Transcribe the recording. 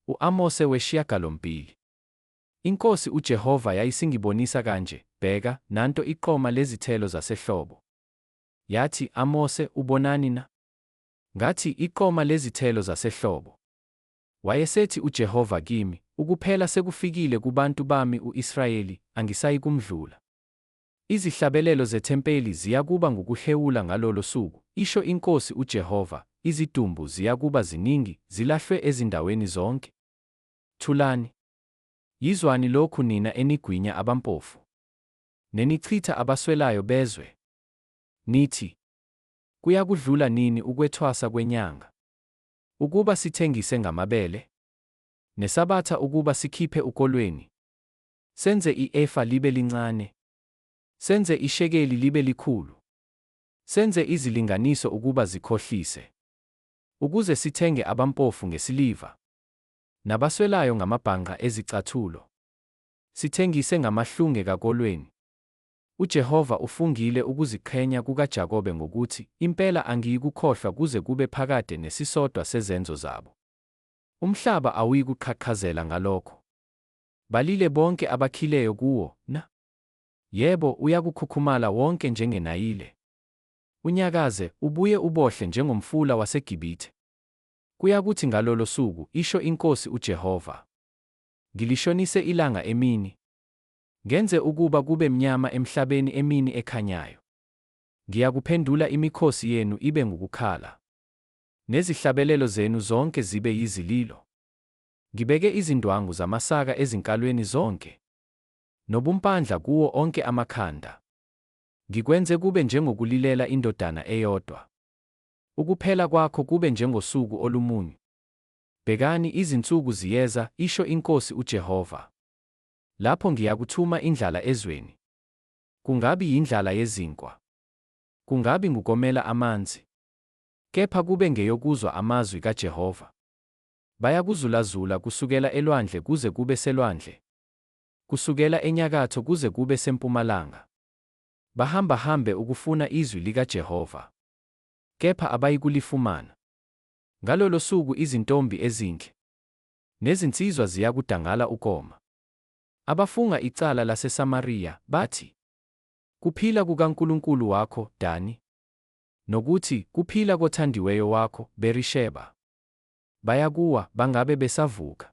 U-Amose weshiyagalombili. INkosi uJehova yayisingibonisa kanje, Bheka, nanto iqoma lezithelo zasehlobo. Yathi, Amose, ubonani na? Ngathi, Iqoma lezithelo zasehlobo. Wayesethi uJehova kimi, Ukuphela sekufikile kubantu bami u-Israyeli, angisayikumdlula. Izihlabelelo zethempeli ziyakuba ngukuhhewula ngalolo suku, isho iNkosi uJehova, izidumbu ziyakuba ziningi, zilahlwe ezindaweni zonke. Thulani! Yizwani lokhu nina enigwinya abampofu, nenichitha abaswelayo bezwe, nithi, Kuyakudlula nini ukwethwasa kwenyanga, ukuba sithengise ngamabele? Nesabatha ukuba sikhiphe ukolweni? Senze i-efa libe lincane. Senze ishekeli libe likhulu. Senze izilinganiso ukuba zikhohlise. Ukuze sithenge abampofu ngesiliva. Nabaswelayo ngamabhangqa ezicathulo. Sithengise ngamahlunge kakolweni. UJehova ufungile ukuziqhenya kukaJakobe ngokuthi, Impela angiyikukhohlwa kuze kube phakade nesisodwa sezenzo zabo. Umhlaba awuyikuqhaqhazela ngalokho. Balile bonke abakhileyo kuwo, na? Yebo, uyakukhukhumala wonke njengeNayile. Unyakaze, ubuye ubohle njengomfula waseGibithe. Kuyakuthi ngalolo suku, isho iNkosi uJehova, Ngilishonise ilanga emini, ngenze ukuba kube mnyama emhlabeni emini ekhanyayo. Ngiyakuphendula imikhosi yenu ibe ngukukhala, nezihlabelelo zenu zonke zibe yizililo. Ngibeke izindwangu zamasaka ezinkalweni zonke, nobumpandla kuwo onke amakhanda. Ngikwenze kube njengokulilela indodana eyodwa, ukuphela kwakho kube njengosuku olumunyu. Bhekani, izinsuku ziyeza, isho iNkosi uJehova, lapho ngiyakuthuma indlala ezweni, kungabi yindlala yezinkwa, kungabi ngukomela amanzi, kepha kube ngeyokuzwa amazwi kaJehova. Bayakuzulazula kusukela elwandle kuze kube selwandle, kusukela enyakatho kuze kube sempumalanga. Bahambahambe ukufuna izwi likaJehova, kepha abayikulifumana. Ngalolo suku izintombi ezinhle nezinsizwa ziyakudangala ukoma. Abafunga icala laseSamariya bathi, Kuphila kukaNkulunkulu wakho, Dani, nokuthi, Kuphila kothandiweyo wakho, Berisheba. Bayakuwa, bangabe besavuka.